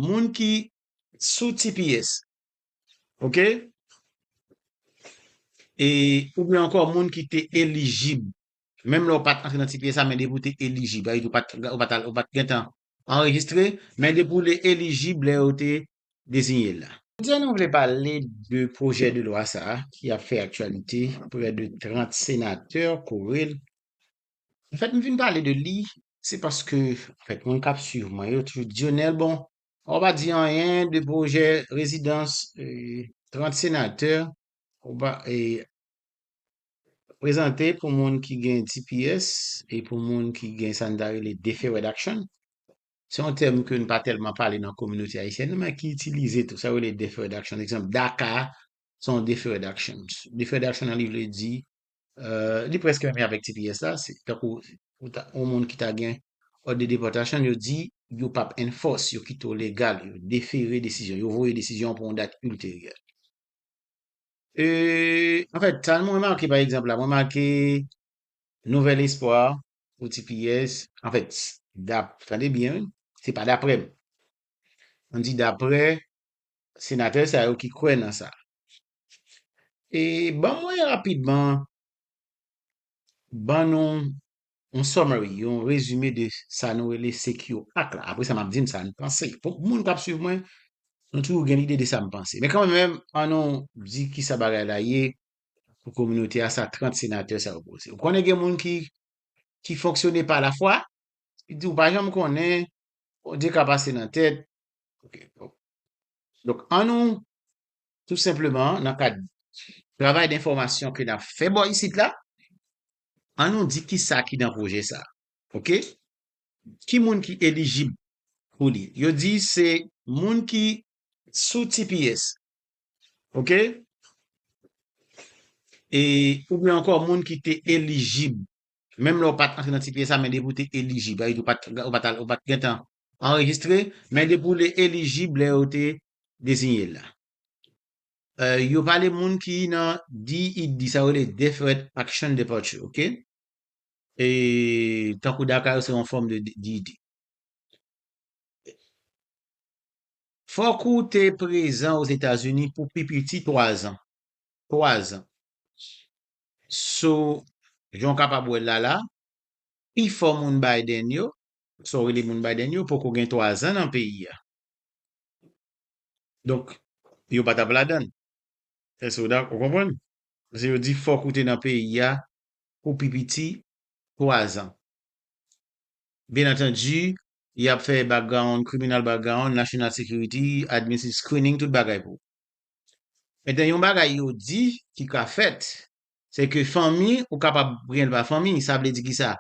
moun ki sou tps ok e oubyen ankò moun ki te elijib menm lè ou pat antre nan tps la men depi ou te elijib sa vle di ou pat gentan anrejistre men depi ou te elijib lè yo te dezinye l la. Jodi a nou vle pale de pwojè de lwa sa ki ap fè aktyalite prè de 30 senatè kore l Le fèt m vin pale de li se paske anfèt moun kap swiv mwen yo toujou Dionel bon ou pa di anyen de pwojè rezidans 30 senatè ou pa prezante pou moun ki gen tps e pou moun ki gen sa nou ta rele deferred action se yon tèm ke nou pa tèlman pale nan kominote ayisyèn nan men ki itilize tou sa yo rele deferred action ekzanp DACA se yon deferred action deferred action nan li vle di Euh, li preske menm avèk tps la, se tankou ou ta on moun ki ta gen òd de depòtasyon, yo di yo pap enforce, yo kite w legal, yo defere desizyon, yo voye desizyon pou yon dat ulteryè. Euh, an fèt, sa mwen make pa egzanp la, mwen make Nouvel Espwa pou tps, an fèt, dap, tande byen wi, se pa daprè m, m di daprè senatè sa yo ki kwè nan sa. E ban mwen rapidman ban nou yon summary, yon rezime de sa nou rele Secure Act la. Apre sa m ap di nou sa nou panse. Pou moun k ap swiv mwen, nou toujou gen lide de sa m panse. Men kan menm, an nou di ki sa bagay la ye pou kominote a, sa 30 senatè sa yo poze. Ou konnen gen moun ki ki fonksyone pa lafwa, ki di ou pa janm konnen, Bondye ka pase nan tèt. Ok, bon. Donk, an nou tou senpleman nan kad travay denfòmasyon ke nap fè bò isit la, an nou di kisa ki nan pwojè sa, ok, ki moun ki elijib pou li, yo di se moun ki sou tps, ok, e oubyen ankò moun ki te elijib, menm lè ou pat antre nan tps la men depi ou te elijib, sa vle di ou pat ou pat al ou pat gentan anrejistre, men depi w li elijib lè yo te dezinye l la. Yo pale moun ki nan DED, sa yo rele Deferred Action Departure, ok? E tankou DACA yo se yon fòm de DED. Fòk ou te prezan Ozetazini pou pi piti 3 zan. 3 zan. So, jan w kapab wè l la la, pifò moun Biden yo, Sa w rele moun Biden yo poko gen 3 zan nan peyi a. Donk, yo pa t ap ladan l. Èske w dakò? Ou konprann? Paske yo di fòk ou te nan peyi a pou pi piti 3 zan. Byennantandi, y ap fè background, criminal background, national security, administrative screening, tout bagay pou ou. Metten yon bagay yo di ki ka fèt, se ke fanmi ou kapab pran l pa fanmi. Sa vle di ki sa?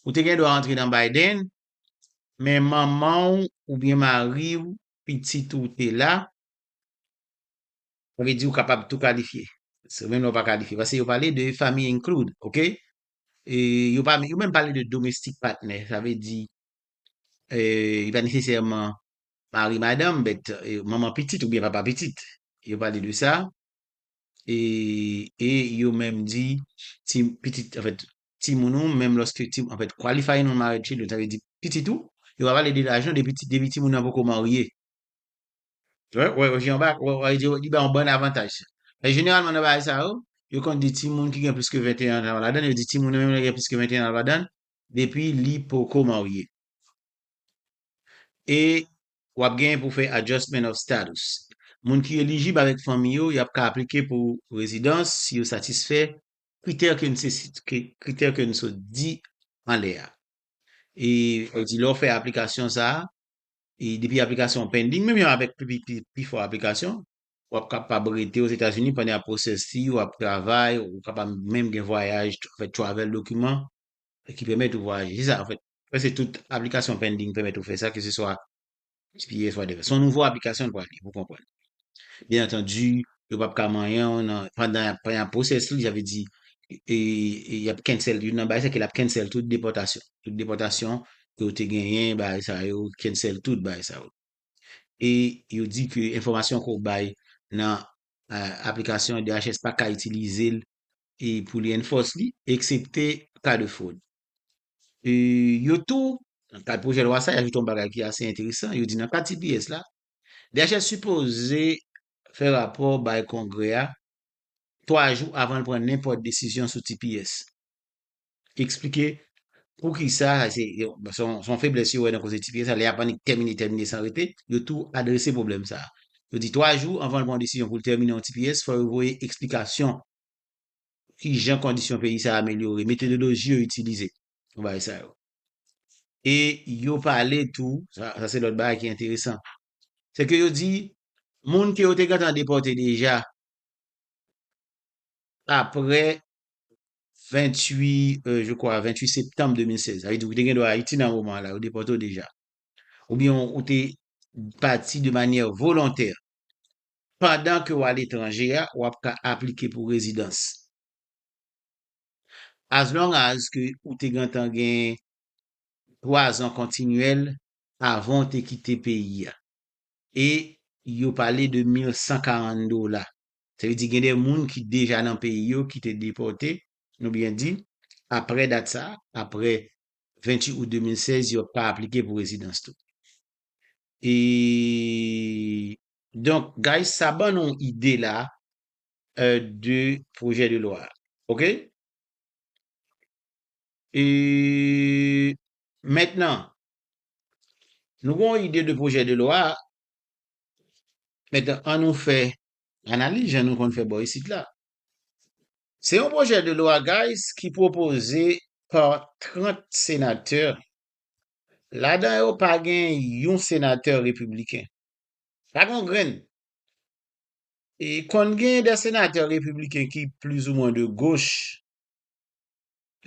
Ou te gendwa antre nan Biden, men manman w oubyen mari w, pitit ou te la, sa vle di ou kapab tou kalifye. Se menm lè ou pa kalifye. Pase yo pale de family include, ok? Yo pa, yo menm pale de domestic partner, sa vle di, li pa nesesèman mari madanm, but manman pitit oubyen papa pitit. Yo pale de sa, e yo menm di, si pitit, anfèt, timoun ou menm lòske timoun, anfèt, qualifying non-married children, sa vle di pitit ou, yo pa pale de lajan depi ti, depi timoun nan poko marye. Wè, wè, wè, je anba, wè, wè, je wè, li bay yon bann avantaj. Men jeneralman nan bagay sa yo, yo konn di timoun ki gen plis ke 21 an al ladann, yo di timoun nan menm lè gen plis ke 21 an al ladann, depi li poko marye. E w ap genyen pou w fè adjustment of status. Moun ki elijib avèk fanmi yo, y ap ka aplike pou rezidans si yo satisfè Kritè ke n se sit ke kritè ke n sot di anlè a. E yo di lè w fè aplikasyon sa a, e depi aplikasyon w pending, menm jan avèk pi pi pifò aplikasyon, w ap kapab rete Ozetazini pandan y ap pwosèse fi w ap travay, ou kapab menm gen vwayaj, fè travel dokiman ki pèmèt ou vwayaje. Se sa anfèt. Prèske tout aplikasyon pending pèmèt ou fè sa keseswa Epi fwa de. Son nouvo aplikasyon l pral ye pou konprann. Byen antandi, yo pap ka manyen w nan pandan y ap y ap pwosès li, sa vle di y ap cancel youn nan bagay sa ki l ap cancel tout depòtasyon. Tout depòtasyon ke w te genyen, bagay sa yo, cancel tout bagay sa yo. E yo di ke enfòmasyon ke w bay nan aplikasyon DHS pa ka itilize l pou li enforce li, eksepte ka de fwod. Yo tou, nan kad pwojè lwa sa, y ajoute yon bagay ki ase enteresan, yo di nan kad tps la, DHS sipoze fè rapò bay Kongrè a 3 jou avan l pran nenpòt desizyon sou tps. Yo eksplike poukisa, se yon feblès yo wè nan koze tps la, lè y ap annik tèmine, tèmine san rete, yo tou adrese pwoblèm sa. Yo di 3 jou anvan l pran yon desizyon pou l tèmine yon tps, fò yo voye eksplikasyon. Ki jan kondisyon peyi sa a amelyore? Metodoloji yo itilize pou bagay sa yo. E yo pale tou, sa se lòt bagay ki enteresan, se ke yo di, moun ke yo te gentan depòte deja apre 28, je kwa, 28 septanm 2016, sa vle di ou te gen dwa Ayiti nan moman an la, yo depòte ou deja, oubyen ou te pati de manyè volontè Pandan ke w aletranje a, w ap ka aplike pou rezidans. As long as ke ou te gentan gen 3 zan kontinyèl avan w te kite peyi a. E yo pale de 1140 dola. Sa vle di gen de moun ki deja nan peyi yo ki te depòte, nou byen di, apre dat sa, apre 28 out 2016, yo ap ka aplike pou rezidans tou. E Donk guys sa ban nou yon ide la de pwojè de lwa a ok. Mentnan nou gen yon ide de pwojè de lwa a, mentnan an nou fè analiz jan nou konn fè bò isit la. Se yon pwojè de lwa guys ki pwopoze pa 30 senatè, ladan yo pa gen yon senatè repibliken. Sa gen yon grenn. E konn gen de senatè repibliken ki pliz ou mwen de goch.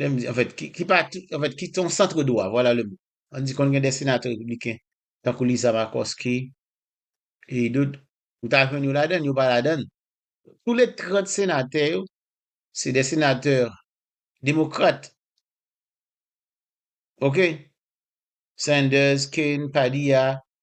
Lè m di, an fèt, ki pa tou, an fèt, ki ton santre dwa, vwala le mo. An di konn gen de senatè repibliken, tankou Lisa Makòske, e dout, ou ta jwenn yo ladann, yo pa ladann. Tou le 30 senatè yo, se de senatè demokrat. Ok? Sanders, Kane, Padilla,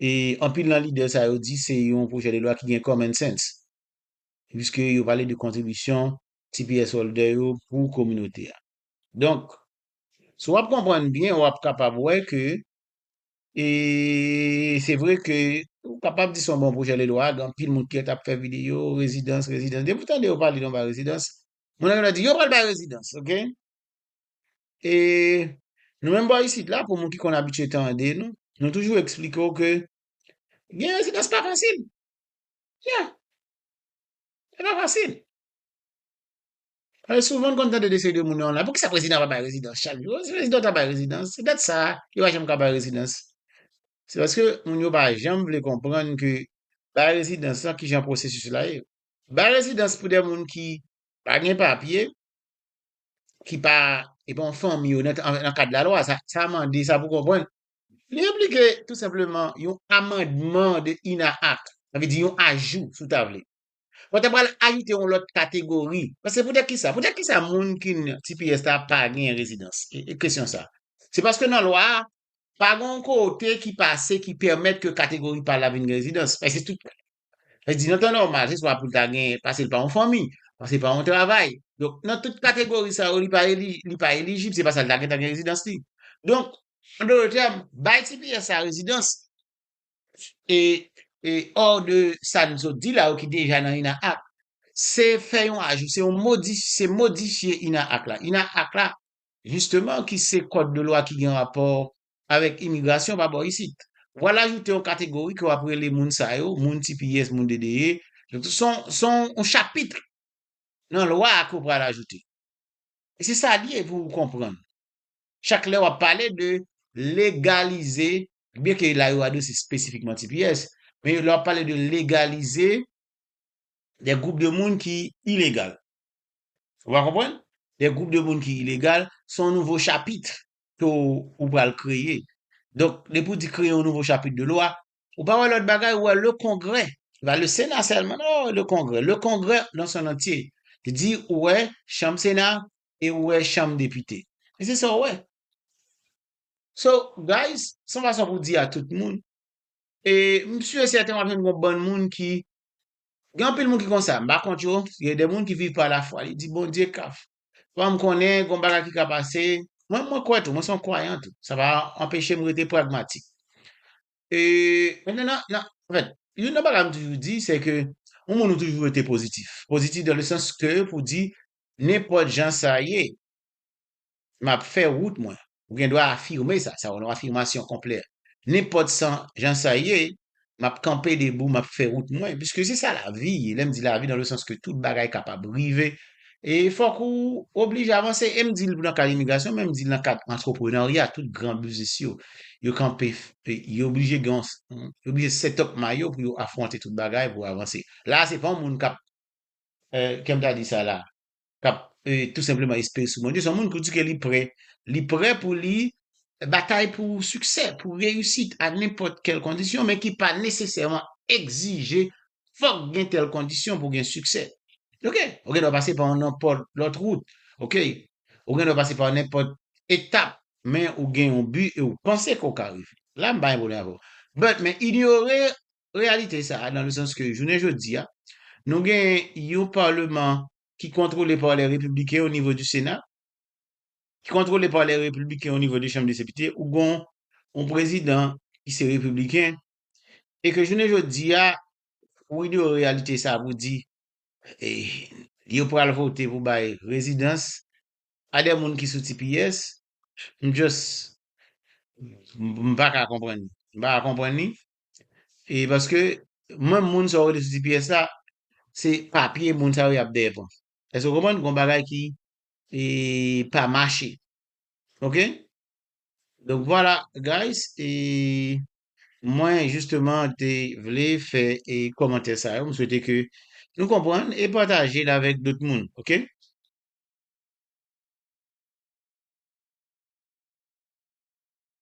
E anpil nan lidè sa yo di se yon pwojè de lwa ki gen common sense, piske yo pale de kontribisyon tps holder yo pou kominote a. Donk, si w ap konprann byen, w ap kapab wè ke e se vre ke ou kapab di se yon bon pwojè de lwa, gen anpil moun ki t ap fè videyo, rezidans, rezidans, depi w tande yo pale de yon bagay rezidans, moun nan gen dwa di yo pral bay rezidans, ok. E nou menm bò isit la, pou moun ki konn abitye tande nou, nou toujou eksplike w ke gen rezidans pa fasil. Ya. Li pa fasil. Paske souvan nou konn tande de seri de moun yo la, poukisa prezidan pa bay rezidans chak jou? Si prezidan ta bay rezidans, se dat sa a, yo pa janm ka bay rezidans. Se paske moun yo pa janm vle konprann ke bay rezidans la, kijan pwosesis la ye. Bay rezidans pou de moun ki pa gen papye, ki pa e pa yon fanmi yo nan kad lalwa, sa mande, sa pou konprann, li enplike tou senpleman yon amandman de INAH Act, sa vle di yon ajou si w ta vle. Ou ta pral ajoute yon lòt kategori, paske poutèt kisa? Poutèt kisa moun ki nan tps la pa gen rezidans? E kesyon sa. Se paske nan lwa a, pa gen yon kote ki pase ki pèmèt ke kategori pa la vin gen rezidans. Paske tout Sa vle di nan tan nòmal, se swa pou l ta gen, pase l pa yon fanmi, pase l pa yon travay. Donk, nan tout kategori sa yo, li pa li pa elijib, se pa sa l ta gen tan gen rezidans li. Donk, an dote tèm, bay tps la rezidans e e or de sa n sot di la yo ki deja nan ina ak, se fè yon ajou, se yon modi se modifye ina ak la. Ina ak la jisteman ki se kòd de lwa ki gen rapò avèk imigrasyon pa bò isit. W al ajoute yon kategori ke w ap rele moun sa yo, moun tipiyès, moun dedeye. Se yon chapitre nan lwa a ke w pral ajoute. E se sa li ye pou ou konprann. Chak lè w ap pale de legalize, byen ke la yo adrese spesifikman tipiyès, men lè w ap pale de legalize de gwoup de moun ki ilegal. Ou va konprann? De gwoup de moun ki ilegal, se yon nouvo chapitre ke w ou pral kreye. Donk, depi w di kreye yon nouvo chapit de lwa, ou pa wè lòt bagay, ou wè le Kongrè. Se pa le Sena sèlman non, oh, le Kongrè. Le Kongrè nan son antye. Te di ou wè Chanm Sena e ou wè Chanm Depite. E se sa w wè. So, guys, se yon fason pou di a tout moun. E m si e sèten w ap jwenn yon bann moun ki, gen anpil moun ki konsa, m pa kont yo, gen de moun ki viv pa lafwa. Li di, Bondye ka fè. Fòm konnen gon bagay ki ka pase. Mwen mwen kwè tou, mwen son kwayan tou. Sa pa anpeche m rete pragmatik. E, mwen nan, nan, anfèt, youn nan bagay m toujou di, se ke yon moun ou toujou rete pozitif. Pozitif dan le sans ke pou di, nenpòt jan sa ye, m ap fè wout mwen. Ou gen dwa afime sa. Sa ou nan afimasyon konplè. Nenpòt san jan sa ye, m ap kanpe debou, m ap fè wout mwen. Piske se sa lavi ye. Lè m di lavi nan le sans ke tout bagay kapab rive. E fòk ou oblije avanse. E m di l nan kad imigrasyon, men m di l nan kad antreprenarya. Tout gran biznis yo, yo kanpe, yo oblije gen yon, yo oblije set up may yo pou yo afwonte tout bagay pou avanse. La a se pa yon moun k ap, kèm ta di sa la? k ap tou senpleman espere sou Bondye, se yon moun ki di ke li prè, li prè pou li batay pou siksè, pou reyisit a nenpòt kèl kondisyon, men ki pa nesesèman egzije fòk gen tèl kondisyon pou gen siksè. Ok, ou gen dwa pase pa yon nenpòt lòt wout, ok, ou gen dwa pase pa yon nenpòt etap, men ou gen yon bi e ou panse ke ou ka rive. La m pa gen pwoblèm avè w. But, men inyore reyalite sa a nan le sans ke jounen jodi a, nou gen yon Parleman ki kontwole pa lè Repibliken o nivo di Sena, ki kontwole pa lè Repibliken o nivo de Chanm de Sepite, ou gon yon Prezidan ki se Repibliken, e ke jounen jodi a, ou inyore reyalite sa a pou di, yo pral vote pou bay rezidans a dè moun ki sou tps, m just, m pa ka konprann li. M pa ka konprann li. E paske, menm moun sa ou rele sou tps la, se papye moun sa yo y ap dèyè pran. Èske ou konprann? Gon bagay ki pa mache. Ok? Donk vwala guys, e mwen jisteman te vle fè e kòmantè sa yo. M swete ke nou konprann e pataje l avèk dòt moun. Ok?